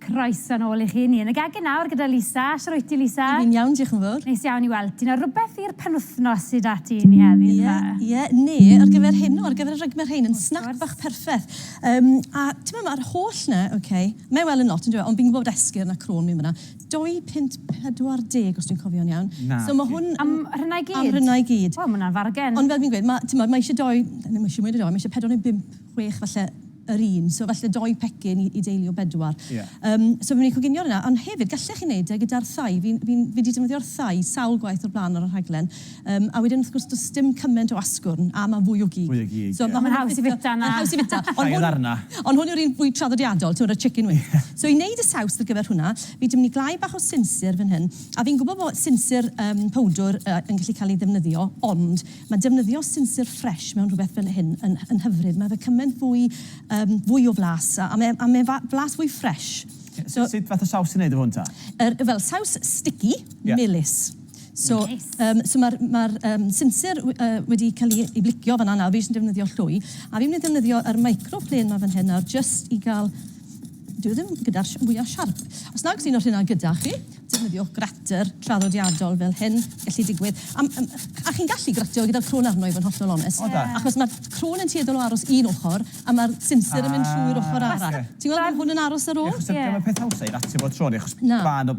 Croeso nôl i chi. Ni yn y gegin nawr gyda Lisa. Shwt ti, Lisa? Fi'n iawn, diolch yn fawr. Neis iawn i weld ti. Nawr, rhywbeth i'r penwythnos sy 'da ti i ni heddi, yndyw e? Ie, ie. Ni, ar gyfer heno, ar gyfer y rugme rhein, yn snac bach perffeth. Yym, a t'mod, ma'r holl 'na, oce, mae e wel yn lot, yndyw e, ond fi'n gwbod bod esgyrn a crôn mewn fanna. 2.40 os dwi'n cofio'n iawn. Na. So ma' hwn... Am hynna i gyd? Am hynna i gyd. Wel, ma' hwnna'n fargen. Ond fel fi'n gweud, ma', t'mod, ma' isie dou, na, ma' isie mwy na dou, ma' isie pedwar neu bump, chwech falle yr un, so falle dou pecyn i i deulu o bedwar. Ie. Yym, so fi'n mynd i coginio hwnna, ond hefyd gallech chi neud e gyda'r thai, fi'n, fi'n, fi 'di defnyddio'r thai sawl gwaith o'r bla'n ar y rhaglen. Yym, a wedyn wrth gwrs does dim cymaint o asgwrn, a mae'n fwy o gig. Fwy o gig, ie. So, mae'n haws i fita 'na. Mae'n haws i fita. Llai o ddarna. Ond hwn yw'r un fwy traddodiadol, timod, y chicken wing. So, i wneud y saws ar gyfer hwnna, fi 'di mynd i glau bach o sinsir fan hyn, a fi'n gwybod bod sinsir yym powdwr yy yn gallu cael ei ddefnyddio, ond mae defnyddio sinsir ffresh mewn rhywbeth fel hyn yn yn hyfryd. Mae fe cymaint fwy yym fwy o flas, a a mae a mae fa- flas fwy ffresh. So... Sut fath o saws ti'n wneud efo hwn ta? Yr, fel, saws sticky, melys. So, yym, so ma'r ma'r yym sensor we- yy wedi ca'l 'i 'i blicio fan 'na nawr, fi jyst yn defnyddio llwy, a fi'n myn' i defnyddio yr micro plane 'ma fan hyn nawr jyst i ga'l... Dyw e ddim gyda'r sh- mwya siarp. Os nag sy'n o'r rheina gyda chi, defnyddio grater traddodiadol fel hyn, gellu digwydd. Am- yym a chi'n gallu gratio gyda'r crôn arno i fod yn hollol onest. O da. Achos ma'r crôn yn tueddol o aros un ochor a ma'r sensor yn mynd trwy'r ochor arall. Ti'n gweld ma' hwn yn aros ar ôl? Ie. Achos dyw e ddim yn peth hawsa i ratio bob tro neu achos... Na. ...ma' 'na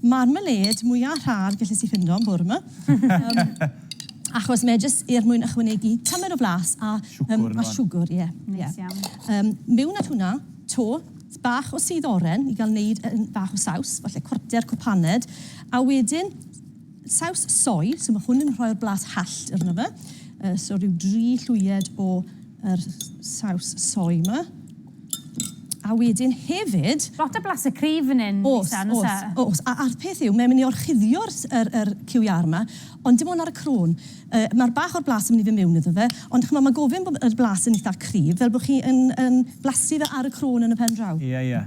Marmalade mwya rhad gelles i ffindo yn bore 'ma. Yym achos mae e jyst er mwyn ychwanegu tymed o flas a yym a siwgwr ie ie. Neis iawn. Yym miwn at hwnna 'to bach o sudd oren i ga'l neud yym bach o saws, falle cwarter cwp paned a wedyn saws soy, so ma' hwn yn rhoi'r blas hallt arno fe, yy so ryw dri llwyed o yr saws soy 'ma. A wedyn hefyd... Lot o blasu cryf fan hyn, Lisa, yn oes e? Oes, oes, oes. A'r peth yw, mae'n mynd i orchuddio'r yr yr QER 'ma, ond dim ond ar y crôn. Yy, mae'r bach o'r blas yn mynd i fynd mewn iddo fe, ond ch'mod, mae gofyn bod yr blas yn eitha cryf, fel bod chi yn yn blasu fe ar y crôn yn y pen draw. Ie, ie.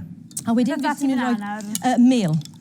A wedyn... Beth arall sy'n mynd i mewn nawr? Yy mêl.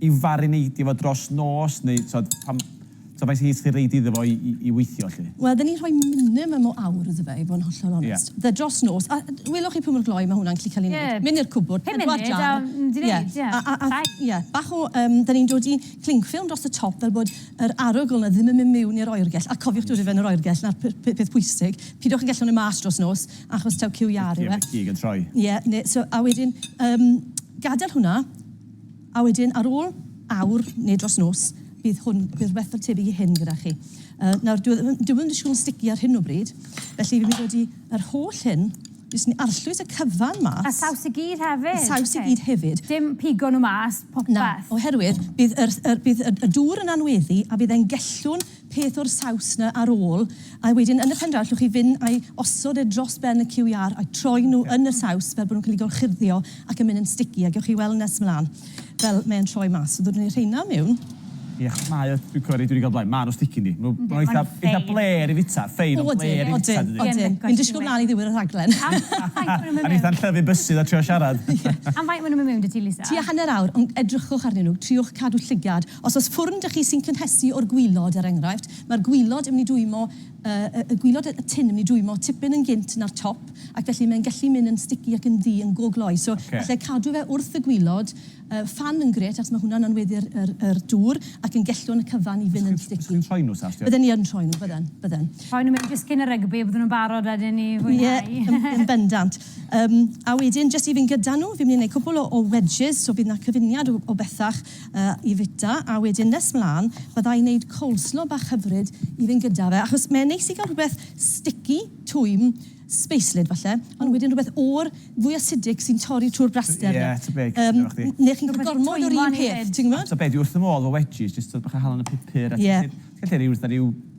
i farineidio fo dros nos neu t'od pan t'od faint hyd chi'n reid iddo fo i i i weithio 'lly? Wel 'dyn ni'n rhoi minimum o awr iddo fe i fod yn hollol onest. Ie. Fe dros nos a d- welwch chi pwy mor gloi ma' hwnna'n gallu ca'l 'i neud. Ie. Myn' i'r cwbwrd pedwar jam. Pum munud a mynd i neud ie. Ie a a a... Fine. Ie bach o yym 'dyn ni'n dod i cling film dros y top fel bod yr arogl 'na ddim yn myn' miwn i'r oergell a cofiwch dod i fewn yr oergell 'na'r pe- pe- peth pwysig. Pidwch a gellwng e mas dros nos achos taw cyw iâr yw e. Cig yn troi. Ie ne' so a wedyn yym gadel hwnna A wedyn ar ôl awr neu dros nos, bydd hwn, bydd rhywbeth fel tebyg i hyn gyda chi. Uh, nawr, dwi ddim, dwi ddim yn stici ar hyn o bryd, felly fi'n mynd wedi yr holl hyn, jyst ni arllwys y cyfan mas. A saws i gyd hefyd? A saws okay. i gyd hefyd. Dim pigo nhw mas, popeth? Na, oherwydd bydd, yr, yr, bydd y, y dŵr yn anweddu a bydd e'n gellwn peth o'r saws 'na ar ôl, a wedyn yn y pen draw allwch chi fynd a'i osod e dros ben y QR a'u troi nhw yn y saws fel bod nhw'n cael eu gorchuddio ac yn mynd yn sticky, a gewch chi weld nes mlaen fel mae'n troi mas. So ddodwn ni'r rheina mewn. Ie, mae o, dwi'n cymryd, dwi 'di gael blaen, maen nhw'n sticky yndi? Maen nhw'n eitha', eitha' blêr i fwyta, ffein ond blêr i fwyta dydi? Odyn, odyn, fi'n disgwyl mlaen i ddiwedd y rhaglen. Am faint maen nhw'n mynd mewn? A neith Anllyfyn bysu 'tha trio siarad. Am faint maen nhw'n mynd mewn 'da ti Lisa? Tua hanner awr, ond edrychwch arnyn nhw, triwch cadw llygad. Os oes ffwrn 'da chi sy'n cynhesu o'r gwilod, er enghraifft, mae'r gwilod yn mynd i dwymo, y y gwilod y tin yn mynd i dwymo tipyn yn gynt na'r top, ac felly mae'n gallu mynd yn sticky ac yn ddu yn go gloi. So falle cadw fe wrth y gwilod, y ffan yn grêt achos mae hwnna'n anweddu'r yr yr dŵr ac yn gellwng y cyfan i fynd yn sticky. Os chi'n rhoi nhw Sastia? Bydden ni yn rhoi nhw, bydden, bydden. Rhoi nhw mewn disgyn a rygbi a bydden nhw'n barod wedyn i fwynhau. Ie, yn bendant. Yym, a wedyn jyst i fynd gyda nhw, fi'n mynd i wneud cwpl o o wedges, so bydd 'na cyfuniad o o bethach. i fita a wedyn nes mlan bydda i'n neud coleslaw bach hyfryd i fynd gyda fe achos mae'n neis i gael rhywbeth sticky, twym, speislyd falle ond wedyn rhywbeth o'r fwy acidic sy'n torri trwy'r braster 'na. Ie, tybig, dwi'n gwybod chdi. Neu chi'n cael gormod o'r un peth, ti'n gwybod? A tybed, dwi wrth fy modd efo wedges, jyst tybed bach o halen a pupur a ti'n gallu rhoi fatha rhyw...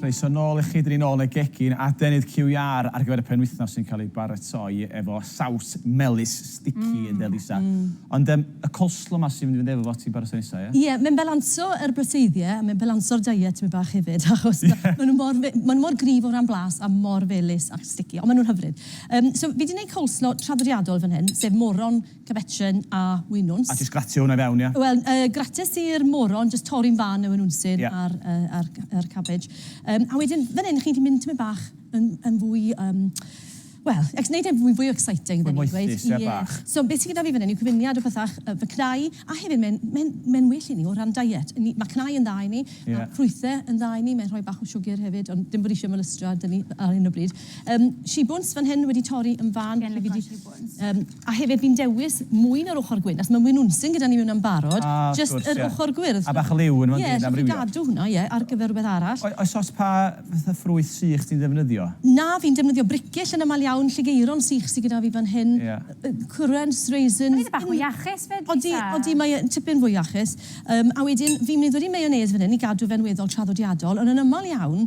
Croeso nôl i chi, dyn ni nôl yn y gegin, adenydd QER ar gyfer y penwythnos sy'n cael ei baratoi efo saws melys sticky ynde Lisa? Ond yym y coleslaw 'ma sy'n mynd i fynd efo fo ti'n baratoi nesa ia? Ie, mae'n balansio yr broteiddie a mae'n balansio'r diet tipyn bach hefyd achos ma' nhw mor fe- ma' nhw mor gryf o ran blas a mor felys a sticky, ond ma' nhw'n hyfryd. Yym so fi 'di neud coleslaw traddodiadol fan hyn, sef moron, Cefetren a winwns. A jyst gratio hwnna i fewn, ia? Wel, grates i'r moron, jyst torri'n fân y winwnsyn a'r cabbage. A wedyn, fan hyn, chi'n gallu mynd tymed bach yn fwy, wel, wneud e'n fwy fwy exciting, fel ni'n gweud. Gweithdy, ie, bach. So, be sy gyda fi fan hyn yw cyfuniad o bethau, fy cnau, a hefyd mae'n well i ni o ran diet. Mae cnau yn dda i ni, a ffrwythau yn dda i ni, mae'n rhoi bach o siwgr hefyd, ond dim bod fi eisiau molystro 'da ni ar hyn o bryd. Shibwns fan hyn wedi torri yn fân. Yym, a hefyd fi'n dewis mwy na'r ochr gwyn, achos ma' mwy o nwnsyn gyda ni mewn am barod. Ah, wrth gwrs, ie. Jyst yr ochr gwyrdd. A bach o liw ynddo fo yndyw? Ie, so fi'n gadw hwnna, ie, ar gyfer rwbeth arall. O- oes ots pa fatha ffrwyth sych ti'n ddefnyddio? Na, fi'n defnyddio bricyll yn amal iawn, lligeiron sych sy gyda fi fan hyn. Ie. Yy currants, raisins. Mae fe'n bach mwy iachus 'fyd, eitha'. Odi, odi, mae e tipyn fwy iachus. Yym, a wedyn fi'n mynd wedi mayonnaise fan hyn i gadw fe'n weddol traddodiadol, ond yn amal iawn,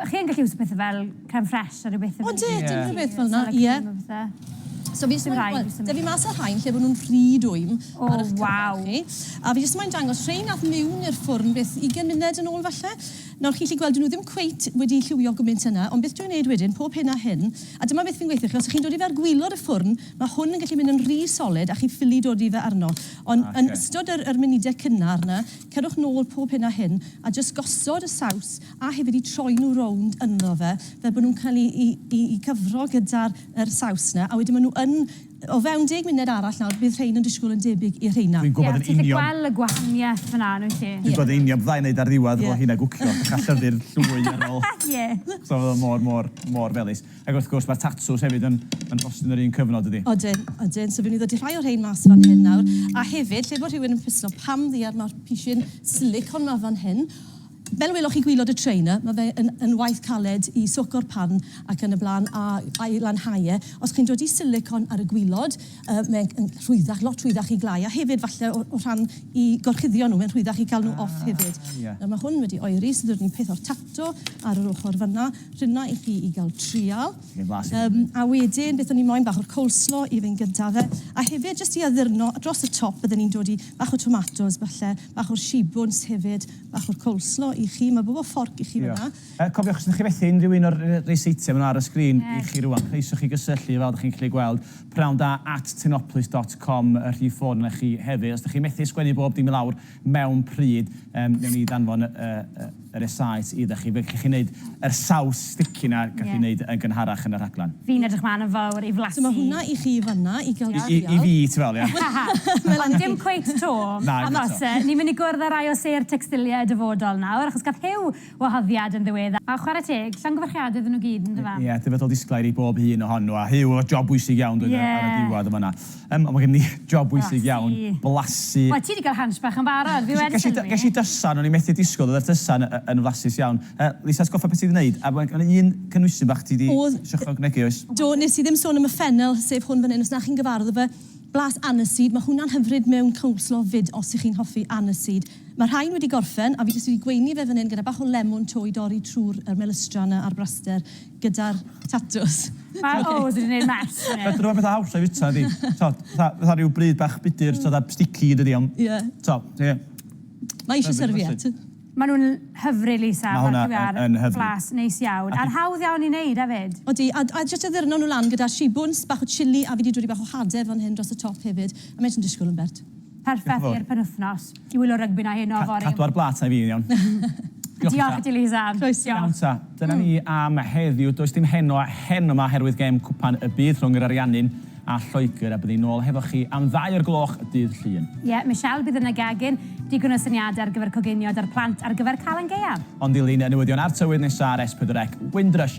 Chi yn gallu iwsio pethe fel creme fraiche a rhyw bethe fel 'ny. Odit, unrhyw beth fel 'na, ie. Siliconum a phethe. So fi jyst moyn, wel, 'da fi mas ar rhain lle bo' nw'n rhy dwym ar 'ych cyfer chi. A fi jyst moyn dangos rhein ath miwn i'r ffwrn beth, ugen munud yn ôl falle. Nawr chi'n gallu gweld 'dyn nw ddim cweit wedi lliwio gwmint yna, ond beth dwi'n neud wedyn, pob hyn a hyn, a dyma beth fi'n gweithio chi, os 'ych chi'n dod i fe ar gwilod y ffwrn, ma' hwn yn gallu mynd yn rhy solid a chi ffili dod i fe arno. Ond yn ystod yr yr munudau cynnar 'na, Cerwch nôl pob hyn a hyn a jyst gosod y saws a hefyd i troi nhw rownd ynddo fe fel bod nhw'n cael i i i gyfro gyda'r yr saws yna a wedyn ma' nhw yn o fewn deg munud arall nawr bydd rhein yn disgwyl yn debyg i'r rheina. Dwi'n gwybod yn union... Ie, ti'n gallu gweld y gwahaniaeth fynna yn wyt ti? Dwi'n gwybod yn union bydda i'n neud ar ddiwedd efo rheina gwcio, dechra llyfu'r llwy ar ôl. Ie. So o'dd o mor mor mor felys. Ac wrth gwrs, mae'r tatŵs hefyd yn yn bost yn yr un cyfnod, dydi? Odyn, odyn. So fi'n mynd i ddodi rhai o'r rhein mas fan hyn nawr. A hefyd, lle bod rhywun yn pwyslo, pam ddiar mae'r pishyn silicone ma fan hyn? Fel y welwch chi gwylod y tray 'na, ma' fe yn yn waith caled i soco'r pan ac yn y bla'n, a a'i lanhau e. Os chi'n dodi silicone ar y gwylod, yy mae'n yn rhwyddach, lot rhwyddach i glai, a hefyd falle o o rhan i gorchuddio nhw, mae'n rhwyddach i cael nhw off hefyd. Ah, ie. Nawr ma' hwn wedi oeri, so ddod ni peth o'r tap. eto ar yr ochr fanna. Rhynna i chi i gael trial. Chi'n flas i fyny. A wedyn beth o'n i moyn, bach o'r coleslaw i fynd gyda fe. A hefyd jyst i addurno, dros y top bydden ni'n dod i bach o tomatos falle, bach o'r shibwns hefyd, bach o'r coleslaw i chi. Mae bobl fforc i chi fanna. Diolch. Cofiwch os ydych chi'n methu unrhyw un o'r rei seitiau maen nhw ar y sgrin i chi rwan, croeso chi gysylltu fel ydych chi'n gallu gweld, pnawn da at tynoplis dot com y rhif ffôn yna i chi hefyd. Os ydych chi'n methu sgwennu bob dim i lawr, mewn pryd yym newn ni ddanfon y y y resaet idda chi. Fe gech chi neud yr saws sticky 'na gaf fi neud yn gynharach yn y rhaglen. Fi'n edrych mlan yn fawr i flasu. So ma' hwnna i chi fanna i ga'l trial. I i fi ti fel ie. Ond dim cweit 'to. Na dim eto. Achos yy ni myn' i gwrdd â rai o sêr tecstilie y dyfodol nawr achos gath Huw wahoddiad yn ddiweddar. A chwarae teg, llongyfarchiadau iddyn nhw gyd, yn do fe? Ie, ie, dyfodol disglair i bob un ohonyn nhw, a Huw, job bwysig iawn doedd e ar y diwedd yn fan'na. Yym, ond mae gennym ni job bwysig iawn, blasu. Wel, ti 'di cael hunch bach yn barod, fi wedi sylwi. Ges i dysan, o'n i methu disgwyl, doedd yr tysan yn flasus iawn. Yy, Lisa, atgoffa beth ti 'di wneud, a mae 'na un cynhwysyn bach ti 'di trio chwanegu, oes? Do, wnes i ddim sôn am y ffenel, sef hwn fan hyn, os na chi'n gyfarwydd â fe, blas aniseed, mae hwnna'n hyfryd mewn coleslaw 'fyd, os y'ch chi'n hoffi aniseed. Mae'r rhain wedi gorffen a fi jyst wedi gweini fe fan hyn gyda bach o lemwn to i dorri trwy'r yr melystra yna a'r braster gyda'r tatws. Mae o wedi neud mess fan hyn. Be dyw e petha hawsa i fita ydi t'od fatha fatha ryw bryd bach budur t'od a sticky dydi ond Ie. t'od ie. Mae isio serviette. Ma' nw'n hyfryd Lisa. Ma' hwnna yn yn hyfryd. Flas neis iawn. A'n hawdd iawn i neud efyd. Odi a a jyst addurno nw lan gyda shibwns, bach o chilli a fi di dodi bach o hade fan hyn dros y top hefyd. A mae jyst yn disgwl am bert. Perffaith i'r penwythnos. Dwi wylio rygbi na heno fory. Cadw ar blat na fi yn iawn. Diolch i ti Lisa. Croeso. Iawn ta, dyna ni am heddiw. Does dim heno a heno yma oherwydd gêm Cwpan y Byd rhwng yr Ariannin a Lloegr a byddwn ni nôl hefo chi am ddau o'r gloch dydd Llun. Ie, Michelle, bydd yna gegin, digon o syniadau ar gyfer coginio 'da'r plant ar gyfer Calan Gaeaf. Ond dilyn y newyddion a'r tywydd nesa ar S4C, Windrush.